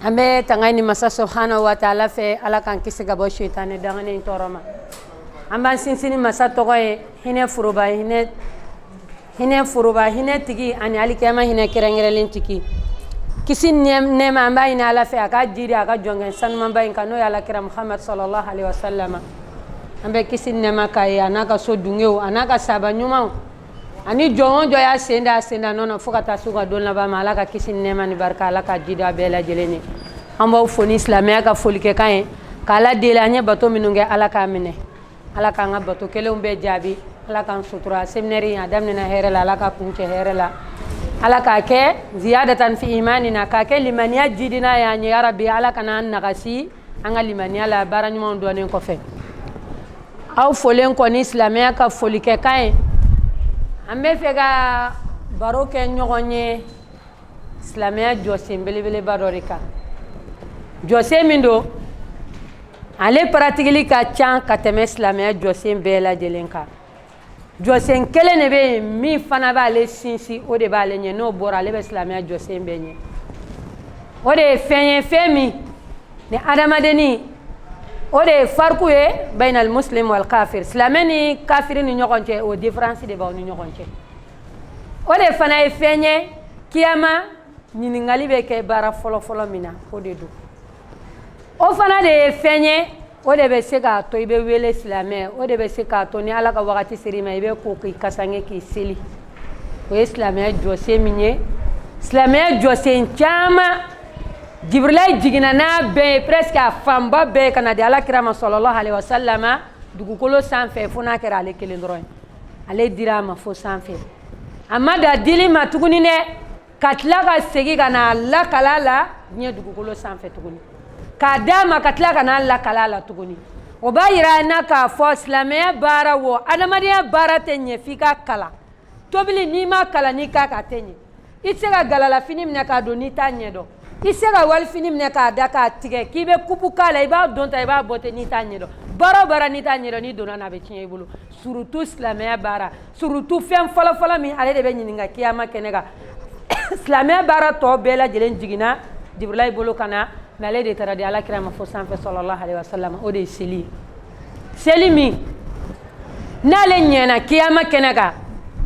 an bɛ tanga ɲini masa subhanahu wa taala fɛ ala k'an kisi ka bɔ setani danganin tɔɔrɔ ma an b'an sinsin masa tɔgɔ ye hinɛ foroba hinɛ hinɛ foroba hinɛ tigi ani alikiyama hinɛ kɛrɛnkɛrɛnlen tigi kisi nɛɛma an b'a ɲini ala fɛ a ka jigi a ka jɔnkɛ sanumanba in kan n'o ye ala kira muhamadu sallallahu alayhi wasallama an bɛ kisi nɛɛma k'a ye a n'a ka sodenw a n'a ka sahaba ɲumanw ani jɔn o jɔn y'a sen da a sen da nɔ na fo ka taa se u ka don laban ma ala ka kisi ni nɛɛma ni barika ala k'a jidi a bɛɛ lajɛlen ye an b'aw fo ni silamɛya ka folikɛkan ye k'ala deli an ye bato minnu kɛ ala k'a minɛ ala k'an ka bato kelenw bɛɛ jaabi ala k'an sutura seminɛri a daminɛna hɛrɛ la ala k'a kuncɛ hɛrɛ la ala k'a kɛ ziyadatan fi imanina k'a kɛ limaniya jidina y'an ye ya rabi ala kana an nagasi an ka limaniya la baara ɲumanw dɔnnen kɔfɛ aw folen kɔ ni silamɛya ka folikɛkan ye an b'a fɛ ka baro kɛ ɲɔgɔn ye silamɛya jɔsen belebeleba dɔ de kan jɔsen min don ale paratikili ka ca ka tɛmɛ silamɛya jɔsen bɛɛ lajɛlen kan jɔsen kelen de bɛ yen min fana b'ale sinsin o de b'ale ɲɛ n'o bɔra ale bɛ silamɛya jɔsen bɛɛ ɲɛ o de ye fɛn ye fɛn min ni adamaden ni o de ye fariku ye bayinal muslim wal kafir silamɛ ni kafiri ni ɲɔgɔn cɛ o différence de b'aw ni ɲɔgɔn cɛ o de fana ye fɛn ye kiyama ɲininkali bɛ kɛ baara fɔlɔfɔlɔ min na o de don o fana de ye fɛn ye o de bɛ se k'a to i bɛ wele silamɛ o de bɛ se k'a to ni ala ka wagati ser'i ma i bɛ ko k'i kasange k'i seli o ye silamɛya jɔsen min ye silamɛya jɔsen caman jibirilayi jiginna n'a bɛɛ ye presque a fanba bɛɛ ye ka na di ala kira ma sallallahu alayhi wasallama dugukolo sanfɛ fo n'a kɛra ale kelen dɔrɔn ye ale dira a ma fo sanfɛ a ma dan dili ma tuguni dɛ ka tila ka segin ka n'a lakalan a la diɲɛ dugukolo sanfɛ tuguni k'a d'a ma ka tila ka n'a lakalan a la tuguni o b'a yira an na k'a fɔ silamɛya baara wo adamadenya baara tɛ ɲɛ f'i k'a kalan tobili n'i m'a kalan n'i k'a k'a tɛ ɲɛ i tɛ se ka galalafini minɛ k'a don n'i t'a ɲɛ dɔn i tɛ se ka wali fini minɛ k'a da k'a tigɛ k'i bɛ kupu k'a la i b'a don tan i b'a bɔ ten n'i t'a ɲɛ dɔn baara o baara n'i t'a ɲɛ dɔn n'i donn'a na a bɛ tiɲɛ i bolo surtout silamɛya baara surtout fɛn fɔlɔfɔlɔ min ale de bɛ ɲininka kiyama kɛnɛ kan silamɛya baara tɔ bɛɛ lajɛlen jiginna jibirila bolo ka na mais ale de taara di ala kira ma fo sanfɛ sallallahu alayhi wa sallam o de ye seli ye seli min n'ale ɲɛna kiyama kɛnɛ kan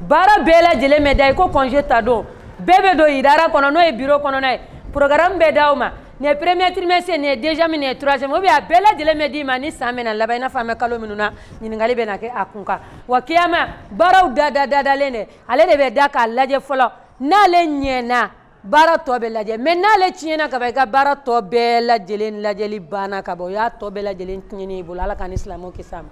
baara bɛɛ lajɛlen bɛ da i ko kɔnje ta don bɛɛ bɛ don idara kɔnɔ n'o ye biro kɔnɔna ye porogaramu bɛ d'aw ma Ni premier trimestre ni deuxième ni troisième bɛ a bɛɛ lajɛlen bɛ d'i ma ni san bɛ na laban n'a bɛ kalo min na ɲininkali bɛ na kɛ a kun kan wa kiyama baaraw da da dadalen dɛ ale de bɛ da k'a lajɛ fɔlɔ n'ale ɲɛana baara tɔ bɛ lajɛ mais n'ale tiɲɛna ka i ka baara tɔ bɛɛ lajɛlen lajɛli banna ka bɔ o y'a tɔ bɛɛ lajɛlen tiɲɛn bolo ala k'an ni silamɛw kisi a ma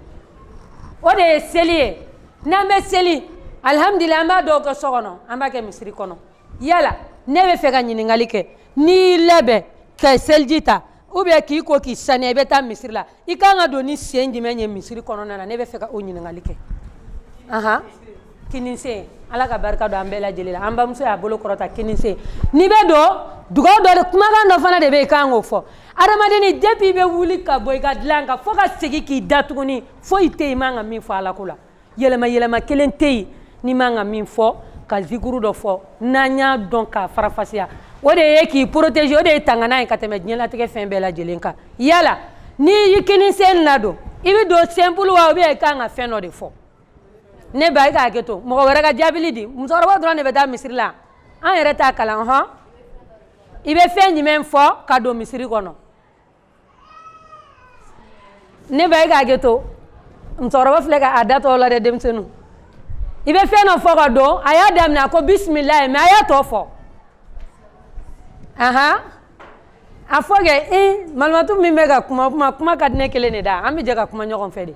o de ye seli ye n'an bɛ seli alihamdulila an b'a dɔw kɛ so kɔnɔ an b'a kɛ misiri kɔnɔ yala ne bɛ fɛ ka ɲininkali kɛ n'i y'i labɛn ka seliji ta ou bien k'i ko k'i saniya i bɛ taa misiri la i kan ka don ni sen jumɛn ye misiri kɔnɔna na ne bɛ fɛ ka o ɲininkali kɛ ahan kinisen ala ka barika don an bɛɛ lajɛlen la an bamuso y'a bolo kɔrɔta kinisen n'i bɛ don dugawu dɔ de kumakan dɔ fana de bɛ yen i kan k'o fɔ adamadenni depuis i bɛ wuli ka bɔ i ka dilan kan fo ka segin k'i da tuguni foyi tɛ yen i man ka min fɔ alako la yɛlɛma yɛlɛma kelen tɛ yen n'i man ka min fɔ ka zikuru dɔ fɔ n'an y'a dɔn k'a farafasiya o de ye k'i protéger o de ye tangana ye ka tɛmɛ diɲɛlatigɛ fɛn bɛɛ lajɛlen kan yala n'i y'i kini sen ladon i bɛ don simple wa ou bien i kan ka fɛn dɔ de fɔ ne ba i k'a hakɛ to mɔgɔ wɛrɛ ka jaabili di musokɔrɔba dɔrɔn de bɛ taa misiri la an yɛrɛ t'a kalan hɔn i bɛ fɛn jumɛn fɔ ka don misiri kɔnɔ ne ba e k'a hakɛ to musokɔrɔba filɛ ka a da tɔ la dɛ denmisɛnninw i bɛ fɛn dɔ fɔ ka don a y'a daminɛ a ko bisimilayi mais a y'a tɔ fɔ ahan a fɔ kɛ i malimatu min bɛ ka kuma kuma kuma ka di ne kelen de da an bɛ jɛ ka kuma ɲɔgɔn fɛ de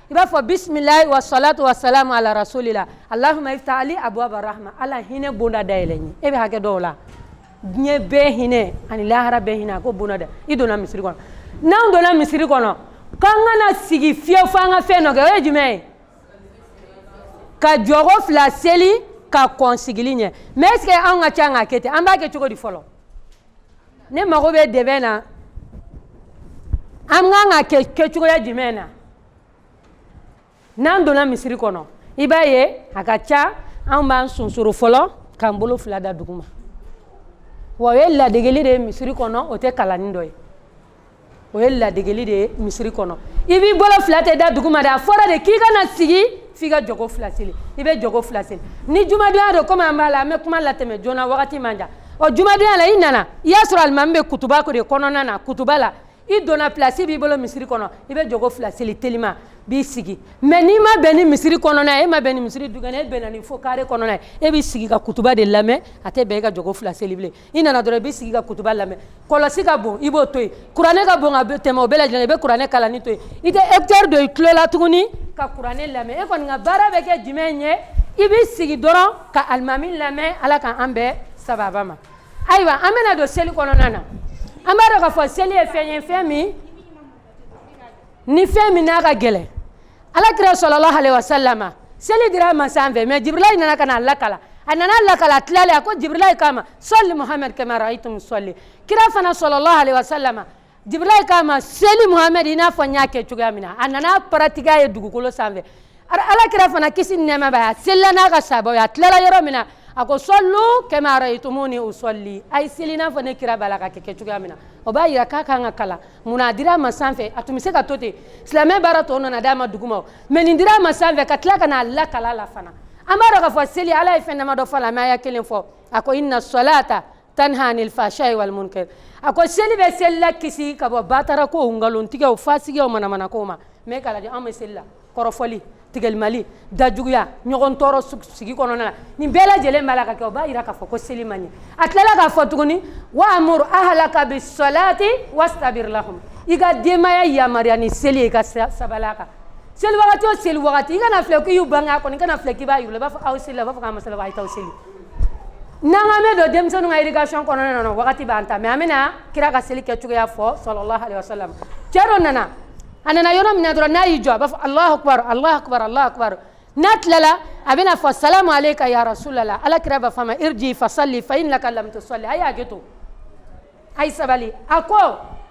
i b'a fɔ bisimilayi wa salatu wa salamu ala rasulila alahuma iftah li abuwaba rahma ala hinɛ bonda dayɛlɛ n ye e bɛ hakɛ dɔw la diɲɛ bɛɛ hinɛ ani lahara bɛɛ hinɛ a ko bonda da i donna misiri kɔnɔ n'an donna misiri kɔnɔ k'an kana sigi fiyewu fo an ka fɛn dɔ kɛ o ye jumɛn ye ka jɔko fila seli ka kɔn sigili ɲɛ mais est ce que anw ka ca k'a kɛ ten an b'a kɛ cogo di fɔlɔ ne mago bɛ dɛbɛn na an kan ka kɛ kɛcogoya jumɛn na n'an donna misiri kɔnɔ i b'a ye a ka ca an b'an sonsoro fɔlɔ k'an bolo fila da duguma wa o ye ladegeli de ye misiri kɔnɔ o tɛ kalanni dɔ ye o ye ladegeli de ye misiri kɔnɔ i b'i bolo fila tɛ da dugu ma de a fɔra de k'i kana sigi f'i ka jɔko fila seli i bɛ jɔko fila seli ni jumadonya don komi an b'a la an bɛ kuma latɛmɛ joona wagati man jan ɔ jumadonya la i nana i y'a sɔrɔ alimami bɛ kutuba de kɔnɔna na kutuba la i donna pilasi b'i bolo misiri kɔnɔ i bɛ jɔko fila seli telima b'i sigi mais n'i ma bɛn ni misiri kɔnɔna ye e ma bɛn ni misiri dukɛnɛ e bɛnna ni fo kare kɔnɔna ye e b'i sigi ka kutuba de lamɛn a tɛ bɛn e ka jɔko fila seli bilen i nana dɔrɔn i b'i sigi ka kutuba lamɛn kɔlɔsi ka bon i b'o to yen kuranɛ ka bon ka tɛmɛ o bɛɛ lajɛlen i bɛ kuranɛ kalanni to yen i tɛ écouteur don i tulo la tuguni ka kuranɛ lamɛn e kɔni ka baara bɛ kɛ jumɛn ye i b'i sigi dɔrɔn ka alimami lamɛn ala ka an bɛɛ sababa ma ayiwa an bɛna don seli kɔnɔna na an b'a dɔn k'a fɔ seli ye fɛn ye fɛn min ni fɛn min n'a ka gɛlɛn ala kira sallallahu alaihi wasallam seli dira a ma sanfɛ mais jibirilayi nana ka na a lakala a nana lakala a tilalen a ko jibirilayi k'a ma salli muhamɛd kama ra'aytum salli kira fana sallallahu alaihi wasallam jibirilayi k'a ma seli muhamɛd i n'a fɔ n y'a kɛ cogoya min na a nana pratiquer a ye dugukolo sanfɛ ala kira fana kisi ni nɛɛma b'a ye a selila n'a ka sabaw a tilala yɔrɔ min na a ko sallu kama ra'aytumuni usalli a ye seli n'a fɔ ne kira b'a la ka kɛ kɛ cogoya min na o b'a yira k'a kan ka kalan munna a dira a ma sanfɛ a tun bɛ se k'a to ten silamɛ baara tɔ nana d'a ma duguma mais nin dira a ma sanfɛ ka tila ka n'a lakala a la fana an b'a dɔn k'a fɔ seli ala ye fɛn dama dɔ fɔ a la mais a y'a kelen fɔ a ko inna salata tanha anil fahsha'i wal munkar a ko seli bɛ selila kisi ka bɔ batarakow nkalontigɛw fasigiya manamanakow ma mais k'a lajɛ an bɛ seli la kɔrɔfɔli tigɛlimali dajuguya ɲɔgɔn tɔɔrɔ sigi kɔnɔna la nin bɛɛ lajɛlen b'a la ka kɛ o b'a jira k'a fɔ ko seli ma ɲɛ a tilala k'a fɔ tuguni wa amuru ahalaka bi salati wastabir lahum i ka denbaya yamaruya ni seli ye i ka sabali a kan seli wagati o seli wagati i kana filɛ k'i y'u bange a kɔnɔ i kana filɛ k'i b'a yir'u la i b'a fɔ aw selila u b'a fɔ k'an ma seli a ye t'aw seli n'an k'an bɛ don denmisɛnninw ka éducation kɔnɔna na wagati b'an ta mais an bɛna kira ka seli kɛ cogoya fɔ sallallahu alaihi wasallam cɛ dɔ nana a nana yɔrɔ min na dɔrɔn n'a y'i jɔ a b'a fɔ alahu akubaru alahu akubaru alahu akubaru n'a tilala a bɛna fɔ salamu aleyka ya rasulala ala kira b'a fɔ a ma irji fasalli fa innaka lam tusalli a y'a hakɛ to a ye sabali a ko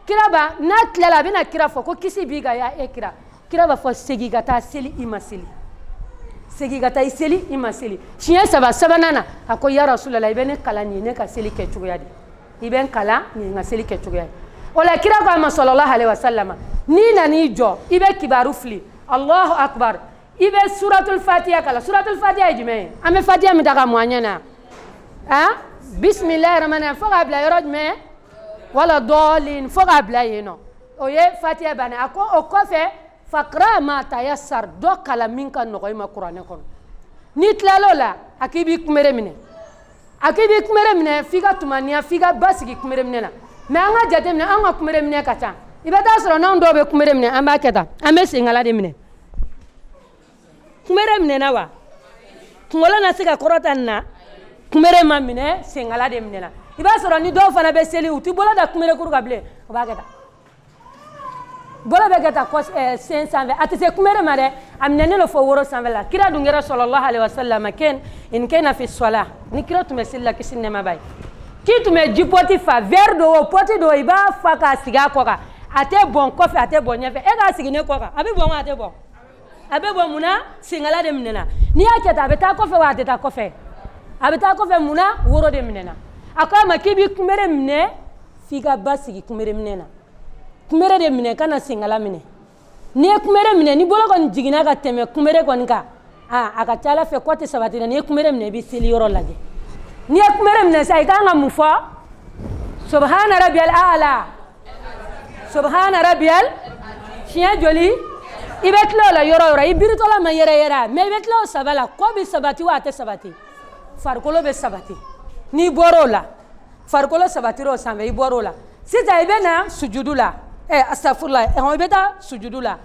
kira ba n'a tilala a bɛna kira fɔ ko kisi b'i kan ya e kira kira b'a fɔ segin ka taa seli i ma seli segin ka taa i seli i ma seli siɲɛ saba sabanan na a ko ya rasulala i bɛ ne kalan nin ye ne ka seli kɛ cogoya de i bɛ n kalan nin ye n ka seli kɛ cogoya ye o la kira ko a ma sallallahu alaihi wasallam n'i nana i jɔ i bɛ kibaru fili alahu akubar i bɛ suratul fatiya kalan suratul fatiya ye jumɛn ye an bɛ fatiya min ta ka mɔn an ɲɛ na han bisimilahi rahmani fo k'a bila yɔrɔ jumɛn wala dɔɔlin fo k'a bila yen nɔ o ye fatiya bannen a ko o kɔfɛ fakra ma tayassar dɔ kalan min ka nɔgɔ i ma kuranɛ kɔnɔ n'i tilal'o la a k'i b'i kunbere minɛ a k'i b'i kunbere minɛ f'i ka tumaniya f'i ka basigi kunbere minɛ na mais an ka jateminɛ an ka kunbere minɛ ka ca i bɛ taa sɔrɔ n'anw dɔw bɛ kunbere minɛ an b'a kɛ tan an bɛ senkala de minɛ kunbere minɛna wa kunkolo na se ka kɔrɔta nin na kunbere ma minɛ senkala de minɛna i b'a sɔrɔ ni dɔw fana bɛ seli u tɛ bolo da kunberekuru kan bilen u b'a kɛ tan bolo bɛ kɛ tan eh, sen sanfɛ a tɛ se kunbere ma dɛ a minɛnen don fo woro sanfɛ la kira dun kɛra sallallahu alaihi wasallam ken in kena fi sɔla ni kira tun bɛ seli la kisi ni nɛɛma b'a ye k'i tun bɛ jipɔti fa vɛri don o pɔti don i b'a fa k'a sigi a kɔ kan a tɛ bɔn kɔfɛ a tɛ bɔn ɲɛfɛ e k'a sigi ne kɔ kan a bɛ bɔn wa a tɛ bɔn a bɛ bɔn mun na senkala de minɛna n'i y'a kɛ tan a bɛ taa kɔfɛ wa a tɛ taa kɔfɛ a bɛ taa kɔfɛ mun na woro de minɛna a ko a ma k'i b'i kunbere minɛ f'i ka ba sigi kunbere minɛ na kunbere de minɛ kana senkala minɛ n'i ye kunbere minɛ ni bolo kɔni jiginna ka tɛmɛ kunbere kɔni kan aa a ka ca a la fɛ kɔ tɛ sabati dɛ n'i ye kunbere minɛ i bɛ seli yɔrɔ lajɛ n'i ye kunbere minɛ sa i kan ka mun fɔ subahana rabiyal aala subahana rabiyal siɲɛ joli i bɛ tila o la yɔrɔ o yɔrɔ i biritɔla ma yɛrɛyɛrɛ mɛ i bɛ tila o saba la kɔ bɛ sabati wa a tɛ sabati farikolo bɛ sabati n'i bɔra o la farikolo sabatira o sanfɛ i bɔra o la sisan i bɛ na sujudu la ɛ asafurula ɛhɔn i bɛ taa sujudu la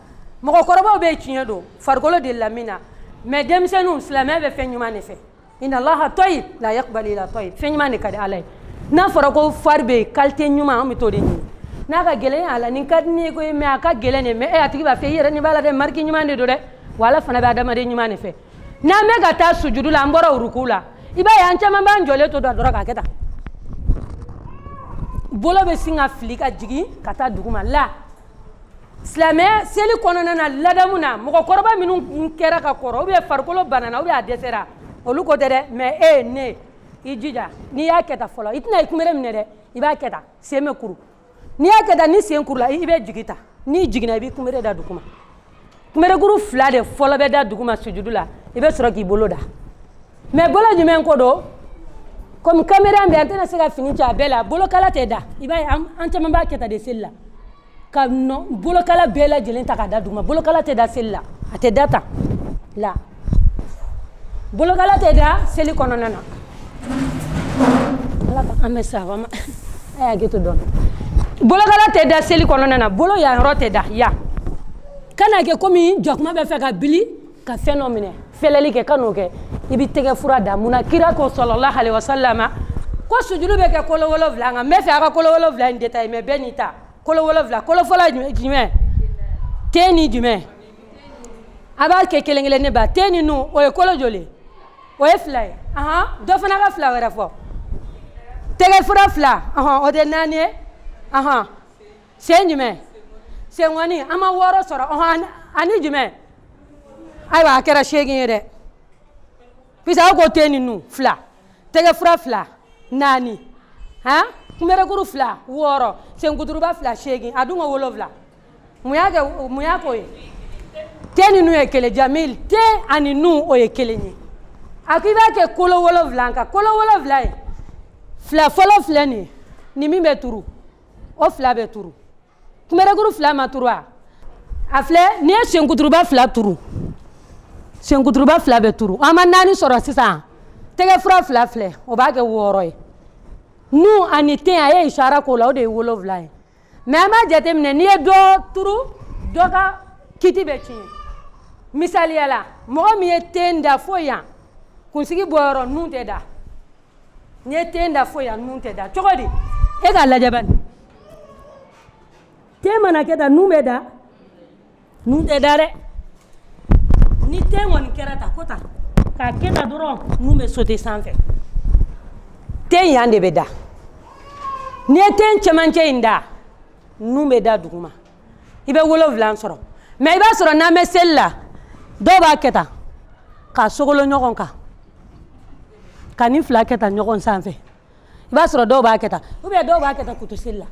mɔgɔkɔrɔbaw bɛ tiɲɛ don farikolo de lamina mɛ denmisɛnninw silamɛ bɛ fɛn ɲuman de fɛ inna allaha toyib la yakbalu illa toyib fɛn ɲuman de ka di ala ye n'a fɔra ko fari bɛ yen kalite ɲuman an bɛ t'o de ɲini n'a ka gɛlɛn a la nin ka di ne ye koyi mɛ a ka gɛlɛn dɛ mɛ e a tigi b'a fɛ i yɛrɛ nin b'a la dɛ mariki ɲuman de don dɛ wa ala fana bɛ adamaden ɲuman de fɛ n'an bɛ ka taa sujudu la an bɔra uruku la i b'a ye an caman b'an jɔlen to da dɔrɔn k'a kɛ tan bolo bɛ sin ka fili ka jigin ka taa duguma la silamɛ seli kɔnɔna na ladamu na mɔgɔkɔrɔba minnu kɛra ka kɔrɔ ubiyɛn farikolo banana ubiyɛn a dɛsɛra olu ko tɛ dɛ mɛ e ye ne i jija n'i y'a kɛ tan fɔlɔ i tɛna i kunbere minɛ dɛ i b'a kɛ tan sen bɛ kuru n'i y'a kɛ tan ni sen kurula i bɛ jigin tan n'i jiginna i b'i kunbere da duguma kunberekuru fila de fɔlɔ bɛ da duguma sujudu la i bɛ sɔrɔ k'i bolo da mɛ bolo jumɛn ko don komi kamera bɛ an tɛna se ka fini cɛ a bɛɛ la bolokala tɛ da i b'a ye an caman b'a kɛ tan de seli la ka bolokala bɛɛ lajɛlen ta ka da duguma bolokala tɛ da seli la a tɛ da tan la bolokala tɛ da seli kɔnɔna na ala ka an bɛ sa wa a y'a to dɔn bolokala tɛ da seli kɔnɔna na bolo yan yɔrɔ tɛ da yan kana kɛ komi jakuma bɛ fɛ ka bili ka fɛn dɔ minɛ fɛlɛli kɛ kan'o kɛ i bɛ tɛgɛfura da mun na kira ko sallallahu alaihi wasallam ko sujulu bɛ kɛ kolo wolonwula kan n bɛ fɛ a ka kolo wolonwula in detaye mɛ bɛɛ n'i ta kolo wolonwula kolo fɔlɔ jumɛn ten ni jumɛn a b'a kɛ kelen kelen ne ba ten ni nun o ye kolo joli o ye fila ye ahan dɔ fana ka fila wɛrɛ fɔ tɛgɛ fura fila ahan o tɛ naani ye ahan sen jumɛn senkɔni an ma wɔɔrɔ sɔrɔ ahan ani jumɛn ayiwa a kɛra seegin ye dɛ puisque aw ko ten ni nun fila tɛgɛ fura fila naani han kunberekuru fila wɔɔrɔ senkuturuba fila seegin a dun ko wolonfila mun y'a kɛ mun y'a k'o ye ten ni nun ye kelen jamil ten ani nun o ye kelen ye a ko i b'a kɛ kolo wolonwula kan kolo wolonwula ye fila fɔlɔ filɛ nin ye ni min bɛ turu o fila bɛ turu kunberekuru fila ma turu wa a filɛ n'i ye senkuturuba fila turu senkuturuba fila bɛ turu an ma naani sɔrɔ sisan tɛgɛ fura fila filɛ o b'a kɛ wɔɔrɔ ye nun ani ten a ye isara k'o la o de ye wolonwula ye mais an b'a jateminɛ n'i ye dɔ turu dɔ ka kiti bɛ tiɲɛ misaliya la mɔgɔ min ye ten da fo yan kunsigi bɔyɔrɔ nun tɛ da n'i ye ten da fo yan nun tɛ da cogo di e k'a lajɛ bani ten mana kɛ tan nun bɛ da nun tɛ da dɛ ni ten kɔni kɛra tan ko tan k'a kɛ tan dɔrɔn nun bɛ sauter sanfɛ ten yan de bɛ da n'i ye ten cɛmancɛ in da nun bɛ da duguma i bɛ wolonwula sɔrɔ mais i b'a sɔrɔ n'an bɛ seli la dɔw b'a kɛ tan k'a sogolo ɲɔgɔn kan ka nin fila kɛ tan ɲɔgɔn sanfɛ i b'a sɔrɔ dɔw b'a kɛ tan ou bien dɔw b'a kɛ tan k'u to seli la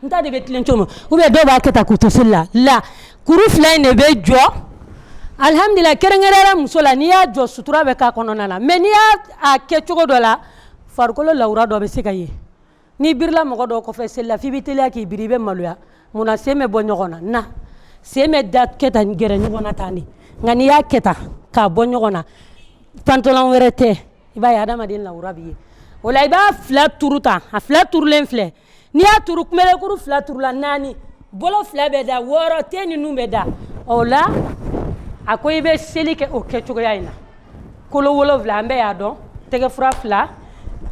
n ta de bɛ tilen cogo ou bien dɔw b'a kɛ tan k'u to seli la kuru fila in de bɛ jɔ alihamdulila kɛrɛnkɛrɛnyara muso la n'i y'a jɔ sutura bɛ k'a kɔnɔna na mais n'i y'a kɛ cogo dɔ la farikolo lawura dɔ bɛ se ka ye n'i birila mɔgɔ dɔw kɔfɛ seli la f'i bɛ teliya k'i biri i bɛ maloya munna sen bɛ bɔ ɲɔgɔn na sen bɛ da kɛ tan ni gɛrɛ ɲɔgɔn na tan de nka n'i y'a kɛ tan k'a bɔ ɲɔgɔn na pantalon wɛrɛ tɛ i b'a ye adamaden lawura bɛ ye o la i b'a fila turu tan a fila turulen filɛ n'i y'a turu kunberekuru fila turula naani bolo fila bɛ da wɔɔrɔ ten ni nun bɛ da o la a ko i bɛ seli kɛ o kɛcogoya in na kolo wolonwula an bɛɛ y'a dɔn tɛgɛfura fila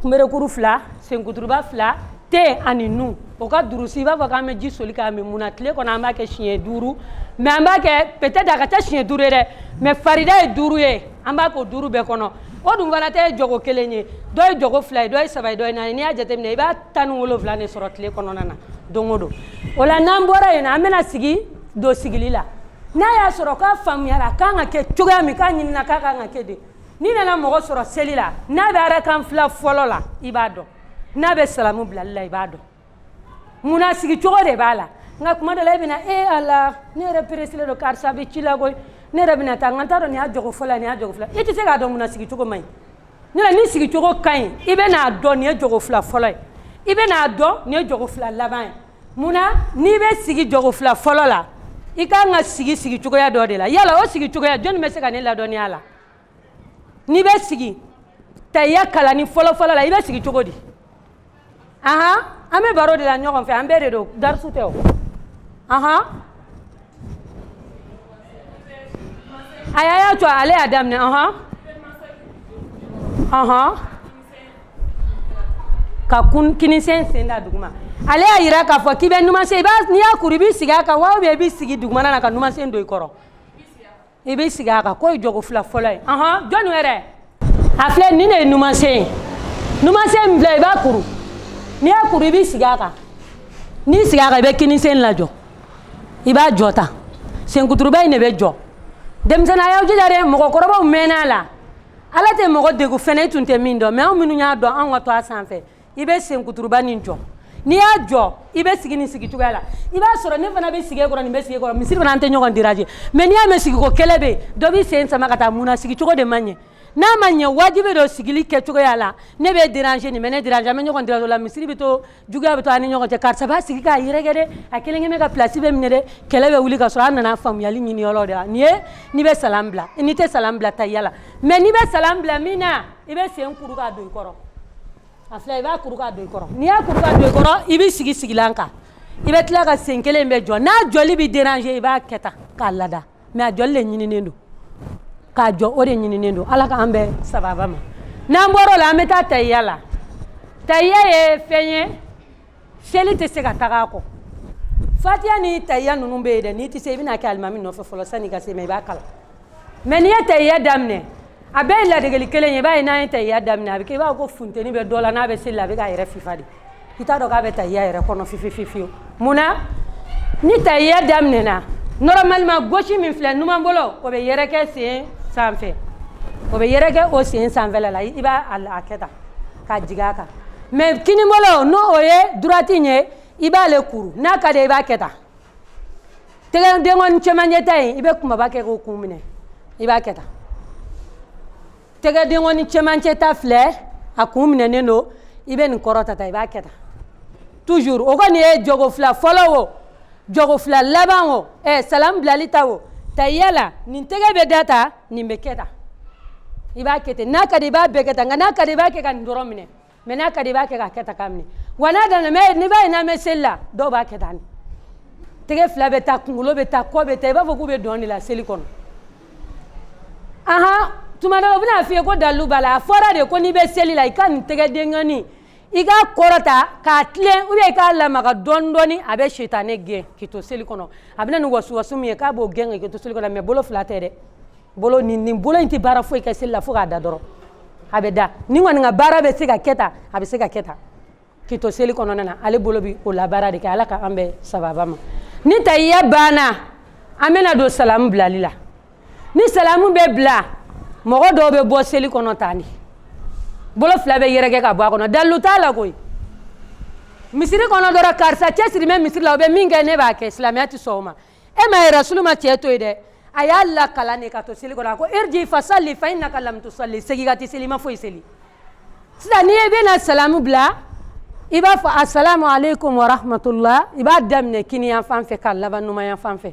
kunberekuru fila senkuturuba fila ten ani nun o ka durusi i b'a fɔ k'an bɛ ji soli k'a min munna tile kɔnɔ an b'a kɛ siɲɛ duuru mais an b'a kɛ peut-être a ka ca siɲɛ duuru ye dɛ mais farida ye duuru ye an b'a k'o duuru bɛɛ kɔnɔ o dun fana tɛ jɔko kelen ye dɔ ye jɔko fila ye dɔ ye saba ye dɔ ye naani n'i y'a jateminɛ i b'a tan ni wolonwula de sɔrɔ tile kɔnɔna na don o don o la n'an bɔra yen na an bɛna sigi don sigili la n'a y'a sɔrɔ k'a faamuyara a kan ka kɛ cogoya min k'a ɲinina k'a kan ka kɛ de n'i nana mɔgɔ sɔrɔ seli la n'a bɛ arakan fila fɔlɔ la i b'a dɔn n'a bɛ salamu bilali la i b'a dɔn munna sigi cogo de b'a la nka tuma dɔ la e bɛna e a la ne yɛrɛ pereselen don karisa bɛ ci la koyi ne yɛrɛ bɛna taa n ka t'a dɔn nin y'a jɔgo fɔlɔ ye nin y'a jɔgo fila e tɛ se k'a dɔn munna sigi cogo man ɲi ne la ni sigi cogo ka ɲi i bɛ n'a dɔn nin ye jɔgo fila fɔlɔ ye i bɛ n'a dɔn nin ye jɔgo fila laban ye munna n'i bɛ sigi jɔgo fila fɔlɔ la i ka kan ka sigi sigi cogoya dɔ de la yala o sigi cogoya jɔnni bɛ se ka ne ladɔnniya a la n'i bɛ sigi tahiya kalanni fɔlɔfɔlɔ la i bɛ sigi cogo di ahan an bɛ baro de la ɲɔgɔn fɛ an bɛɛ de don darisu tɛ o ahan a y'a y'a to ale y'a daminɛ ahan ahan ka kun kinisen sen da duguma ale y'a yira k'a fɔ k'i bɛ numansen i b'a n'i y'a kuru i b'i sigi a kan wa ou bien i b'i sigi dugumana na ka numansen don i kɔrɔ i bɛ sigi a kan k'o ye jogo fila fɔlɔ ye ɔhɔn jɔni yɛrɛ a filɛ nin de ye numansen ye numansen min filɛ i b'a kuru n'i y'a kuru i b'i sigi a kan n'i sigi a kan i bɛ kinisen lajɔ i b'a jɔ tan senkuturuba in de bɛ jɔ denmisɛnninw a y'aw jija dɛ mɔgɔkɔrɔbaw mɛnna a la ala tɛ mɔgɔ degun fɛn na i tun tɛ min dɔn mais anw minnu y'a dɔn anw ka to a sanfɛ i bɛ senkuturuba nin jɔ n'i y'a jɔ i bɛ sigi nin sigi cogoya la i b'a sɔrɔ ne fana bɛ sigi e kɔrɔ nin bɛ sigi e kɔrɔ misiri fana an tɛ ɲɔgɔn déranger mais n'i y'a mɛn sigiko kɛlɛ bɛ yen dɔ b'i sen sama ka taa mun na sigi cogo de ma ɲɛ n'a ma ɲɛ wajibi don sigili kɛ cogoya la ne bɛ déranger nin bɛ ne déranger an bɛ ɲɔgɔn déranger la misiri bɛ to juguya bɛ to an ni ɲɔgɔn cɛ karisa b'a sigi k'a yɛrɛkɛ dɛ a kelen kelen bɛ ka pilasi bɛɛ minɛ dɛ kɛlɛ bɛ wuli ka sɔrɔ an nana faamuyali ɲini yɔrɔ de la nin ye n'i bɛ salam bila n'i tɛ salam bila tahiya la mais n'i bɛ salam bila min na i bɛ sen kuru k'a don i kɔrɔ a filɛ i b'a kuru k'a don i kɔrɔ n'i y'a kuru k'a don i kɔrɔ i bɛ sigi sigilan kan i bɛ tila ka sen kelen in bɛ jɔ n'a jɔli bɛ déranger i b'a kɛ tan k'a lada mais a jɔli de ɲininen don k'a jɔ o de ɲininen don ala k'an bɛɛ sababa ma n'an bɔr'o la an bɛ taa tahiya la tahiya ye fɛn ye seli tɛ se ka taga a kɔ fatiha ni tahiya ninnu bɛ yen dɛ n'i tɛ se i bɛna kɛ alimami nɔfɛ fɔlɔ sanni i ka se mais i b'a kalan mais n'i ye tahiya daminɛ a bɛɛ ye ladegeli kelen ye i b'a ye n'an ye tahiya daminɛ a bɛ kɛ i b'a fɔ ko funteni bɛ dɔ la n'a bɛ seli la a bɛ k'a yɛrɛ fifa de i t'a dɔn k'a bɛ tahiya yɛrɛ kɔnɔ fiyefiyefiyewu mun na ni tahiya daminɛna normalement gauche min filɛ numan bolo o bɛ yɛrɛkɛ sen sanfɛ o bɛ yɛrɛkɛ o sen sanfɛla la i b'a a kɛ tan k'a jigin a kan mais kinibolo n'o o ye droite in ye i b'ale kuru n'a ka di i b'a kɛ tan tɛgɛ denkɔni cɛmancɛ ta in i bɛ kunbaba kɛ k'o kun minɛ i b'a kɛ tan tɛgɛ denkɔni cɛmancɛ ta filɛ a kun minɛnen don i bɛ nin kɔrɔta tan i b'a kɛ tan toujours o kɔni ye jogo fila fɔlɔ o jogo fila laban o ɛ salam bilali ta o tahiya la nin tɛgɛ bɛ da tan nin bɛ kɛ tan i b'a kɛ ten n'a ka di i b'a bɛɛ kɛ tan nka n'a ka di i b'a kɛ ka nin dɔrɔn minɛ mais n'a ka di i b'a kɛ k'a kɛ tan k'a minɛ wa n'a danna mais n'i b'a ye n'an bɛ seli la dɔw b'a kɛ tan tɛgɛ fila bɛ taa kunkolo bɛ taa kɔ bɛ taa i b'a fɔ k'u bɛ dɔn de la seli kɔnɔ ahan tuma dɔ la u bɛna f'i ye ko dalilu b'a la a fɔra de ko n'i bɛ seli la i ka nin tɛgɛ denkɔnin i k'a kɔrɔta k'a tilen ou bien i k'a lamaga dɔɔni dɔɔni a bɛ sitanɛ gɛn k'i to seli kɔnɔ a bɛ na ni wasuwasu min ye k'a b'o gɛn k'i to seli kɔnɔ mais bolo fila tɛ dɛ bolo nin nin bolo in tɛ baara foyi kɛ seli la fo k'a da dɔrɔn a bɛ da nin kɔni ka baara bɛ se ka kɛ tan a bɛ se ka kɛ tan k'i to seli kɔnɔna na ale bolo bɛ o la baara de kɛ ala k'an bɛɛ sababa ma ni tahiya banna an bɛna don salamu bilali la ni salamu bɛ bila mɔgɔ dɔw bɛ bɔ seli kɔnɔ tan de bolo fila bɛ yɛrɛkɛ ka bɔ a kɔnɔ dalilu t'a la koyi misiri kɔnɔ dɔrɔn karisa cɛsiri bɛ misiri la o bɛ min kɛ ne b'a kɛ silamɛya tɛ sɔn o ma e ma ye rasulu ma cɛ to yen dɛ a y'a lakalan de ka to seli kɔnɔ a ko irji fasalli fa innaka lam tusalli segin ka t'i seli i ma foyi seli sisan n'i ye bɛna salamu bila i b'a fɔ asalamu aleykum wa rahmatulah i b'a daminɛ kininyanfan fɛ k'a laban numanyanfan fɛ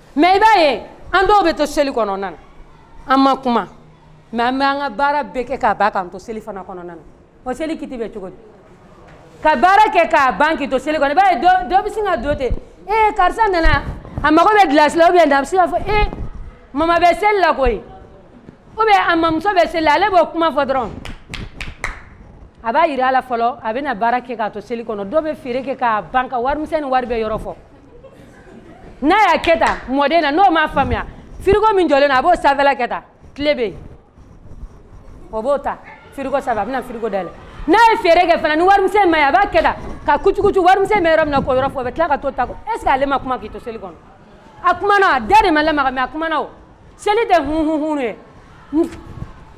mais i b'a ye an dɔw bɛ to seli kɔnɔna na an ma kuma mais an bɛ an ka baara bɛɛ kɛ k'a ban k'an to seli fana kɔnɔna na o seli kiiti bɛ cogo di ka baara kɛ k'a ban k'i to seli kɔnɔ i b'a ye dɔ bɛ sin ka don ten ee karisa nana a mago bɛ gilasi la ou bien a bɛ sin k'a fɔ ee mama bɛ seli la koyi ou bien a mamuso bɛ seli la ale b'o kuma fɔ dɔrɔn a b'a yira a la fɔlɔ a bɛna baara kɛ k'a to seli kɔnɔ dɔ bɛ feere kɛ k'a ban ka warimisɛn ni wari bɛɛ yɔrɔ fɔ n'a y'a kɛ tan mɔden na n'o m'a faamuya firigo min jɔlen na a b'o sanfɛla kɛ tan kile bɛ yen o b'o ta firigo sanfɛ a bɛna firigo dayɛlɛ n'a ye feere kɛ fana ni warimisɛn ma ye a b'a kɛ tan ka kucukucu warimisɛn bɛ yɔrɔ min na k'o yɔrɔ fɔ o bɛ tila ka t'o ta est ce que ale ma kuma k'i to seli kɔnɔ a kumana a da de ma lamaga mais a kumana o seli tɛ hunhunhun ye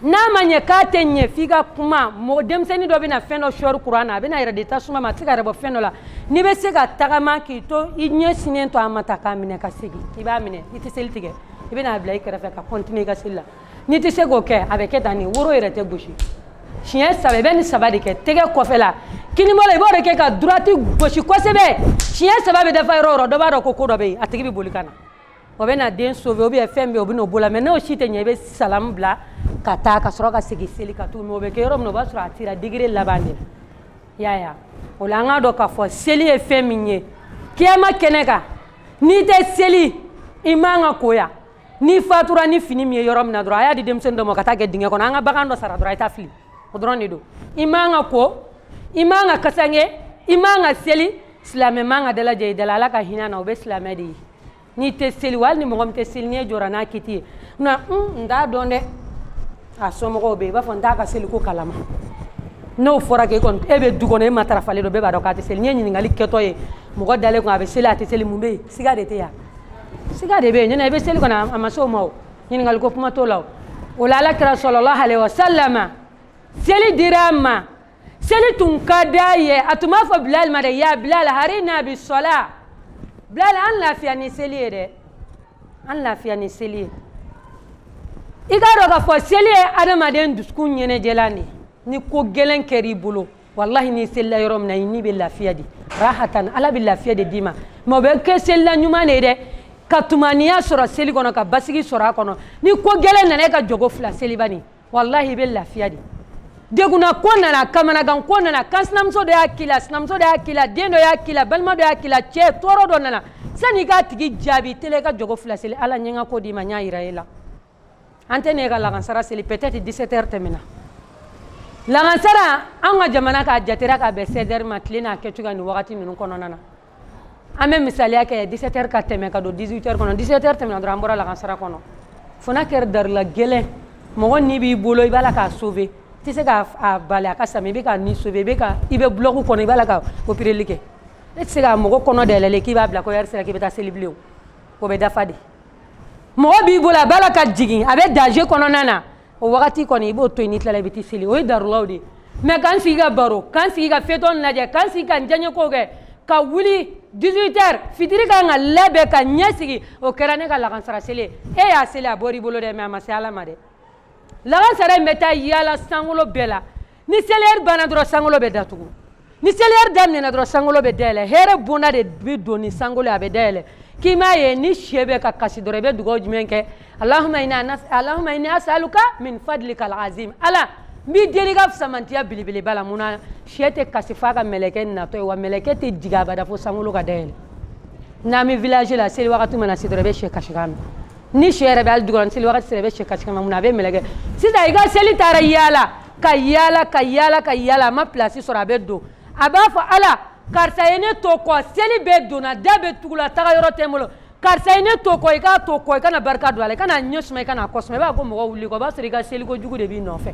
n'a ma ɲɛ k'a tɛ ɲɛ f'i ka kuma mɔgɔ denmisɛnnin dɔ bɛna fɛn dɔ sɔɔri kuran na a bɛn'a yɛrɛ di tasuma ma a tɛ k'a yɛrɛ bɔ fɛn dɔ la n'i bɛ se ka tagama k'i to i ɲɛ sinnen to a ma taa k'a minɛ ka segin i b'a minɛ i tɛ seli tigɛ i bɛna a bila i kɛrɛfɛ ka continuer i ka seli la n'i tɛ se k'o kɛ a bɛ kɛ tan nin woro yɛrɛ tɛ gosi siɲɛ saba i bɛ nin saba de kɛ tɛgɛ kɔfɛla kininbolo i b'o de kɛ ka droite gosi kosɛbɛ siɲɛ saba bɛ dafa yɔrɔ o yɔrɔ dɔ b'a dɔn ko ko dɔ bɛ yen a tigi bɛ boli ka na o bɛna den sauver ou bien fɛn min bɛ yen o bɛ n'o b'o la mais n'o si tɛ ɲɛ i bɛ salamu bila ka taa ka sɔrɔ ka segin seli kan tugun mais o bɛ kɛ yɔrɔ min na o b'a sɔrɔ a taara degré laban de la i y'a ye wa o la an k'a dɔn k'a fɔ seli ye fɛn min ye kiyama kɛnɛ kan n'i tɛ seli i man ka ko yan n'i fatura ni fini min ye yɔrɔ min na dɔrɔn a y'a di denmisɛnnin dɔ ma ka taa kɛ dingɛ kɔnɔ an ka bagan dɔ sara dɔrɔn a ye taa fili o dɔrɔn de don i man ka ko i man ka kasange i man ka seli silamɛ man ka dalajɛ i da la ala ka hinɛ a na o bɛ silamɛ de ye n'i tɛ seli walahi ni mɔgɔ min tɛ seli ni e jɔra n'a kiti ye na un n t'a dɔn dɛ a somɔgɔw bɛɛ b'a fɔ n t'a ka seliko kalama n'o fɔra k'e kɔni e bɛ du kɔnɔ e matarafalen don bɛɛ b'a dɔn k'a tɛ seli n'i ye ɲininkali kɛtɔ ye mɔgɔ dalen kun a bɛ seli a tɛ seli mun bɛ yen siga de tɛ yan siga de bɛ yen nin n'a bɛ seli kɔni a ma s'o ma o ɲininkali ko kuma t'o la o o la ala kira salalahu alayihi wa salam seli dira a ma seli tun ka d'a ye a tun b'a fɔ bilali ma dɛ ya bilali arihna bi sala bilali an lafiya ni seli ye dɛ an lafiya ni seli ye i k'a dɔn k'a fɔ seli ye adamaden dusukun ɲɛnajɛlan de ni ko gɛlɛn kɛra i bolo walahi n'i selila yɔrɔ min na i ni bɛ lafiya de rahatan ala bɛ lafiya de d'i ma mais o bɛ kɛ selila ɲuman de ye dɛ ka tumaniya sɔrɔ seli kɔnɔ ka basigi sɔrɔ a kɔnɔ ni ko gɛlɛn nana e ka jɔko fila seli bani walahi i bɛ lafiya de degunnako nana kamanaganko nana kan sinamuso dɔ y'a k'i la sinamuso dɔ y'a k'i la den dɔ y'a k'i la balima dɔ y'a k'i la cɛ tɔɔrɔ dɔ nana sani i k'a tigi jaabi tele i ka jɔko fila seli ala n ye n ka ko d'i ma n y'a yira e la an tɛ ne ka lagansara seli peut-être 17 heures tɛmɛna lagansara an ka jamana k'a jatera k'a bɛn 16 heures ma tile n'a kɛcogoya nin wagati ninnu kɔnɔna na an bɛ misaliya kɛ 17 heures ka tɛmɛ ka don 18 heures kɔnɔ 17 heures tɛmɛna dɔrɔn an bɔra lakansara kɔnɔ fo n'a kɛra darula gɛlɛn mɔgɔ ni b'i bolo i b'a la k'a sauver tɛ se k'a bila a ka sa mais i bɛ k'a ni sauver i bɛ ka i bɛ bloc kɔnɔ i b'a la ka opereli kɛ e tɛ se ka mɔgɔ kɔnɔ dayɛlɛlen k'i b'a bila ko heure sera k'i bɛ taa seli bilen o bɛ dafa de mɔgɔ b'i bolo a b'a la ka jigin a bɛ danger kɔnɔna na o wagati kɔni i b'o to yen n'i tilala i bɛ t'i seli o ye darulaw de ye mais k'an sigi ka baro k'an sigi ka feuilleton lajɛ k'an sigi k'an diyaɲekow kɛ ka wuli 18 heures fitiri ka kan ka labɛn ka ɲɛsigi o kɛra ne ka lakansara seli ye e y'a seli a bɔr'i bolo dɛ mais a ma se ala ma dɛ lakansara in bɛ taa yaala sankolo bɛɛ la ni seli heure banna dɔrɔn sankolo bɛ datugu ni seli heure daminɛna dɔrɔn sankolo bɛ dayɛlɛ hɛrɛ bonda de bɛ don ni sankolo a bɛ dayɛlɛ k'i m'a ye ni sɛ bɛ ka kasi dɔrɔn i bɛ dugawu jumɛn kɛ alahuma ini asaluka min fadlikal azim ala n b'i deli i ka samantiya belebeleba la munna sɛ tɛ kasi f'a ka mɛlɛkɛ natɔ ye wa mɛlɛkɛ tɛ jigin abada fo sankolo ka dayɛlɛ n'an bɛ village la seli wagati mana se dɔrɔn i bɛ sɛ kasikan mɛn ni sɛ yɛrɛ bɛ hali dugukɔnɔ seli wagati sera i bɛ sɛ kasikan mɛn mun na a bɛ mɛlɛkɛ sisan i ka seli taara yaala ka yaala ka yaala ka yaala a ma pilasi sɔrɔ a bɛ don a b'a fɔ ala karisa ye ne to kɔ seli bɛɛ donna da bɛɛ tugula taga yɔrɔ tɛ n bolo karisa ye ne to kɔ i k'a to kɔ i kana barika don a la i kana ɲɛ suma i kana kɔ suma i b'a ko mɔgɔ wuli kɔ o b'a sɔrɔ i ka seliko jugu de b'i nɔfɛ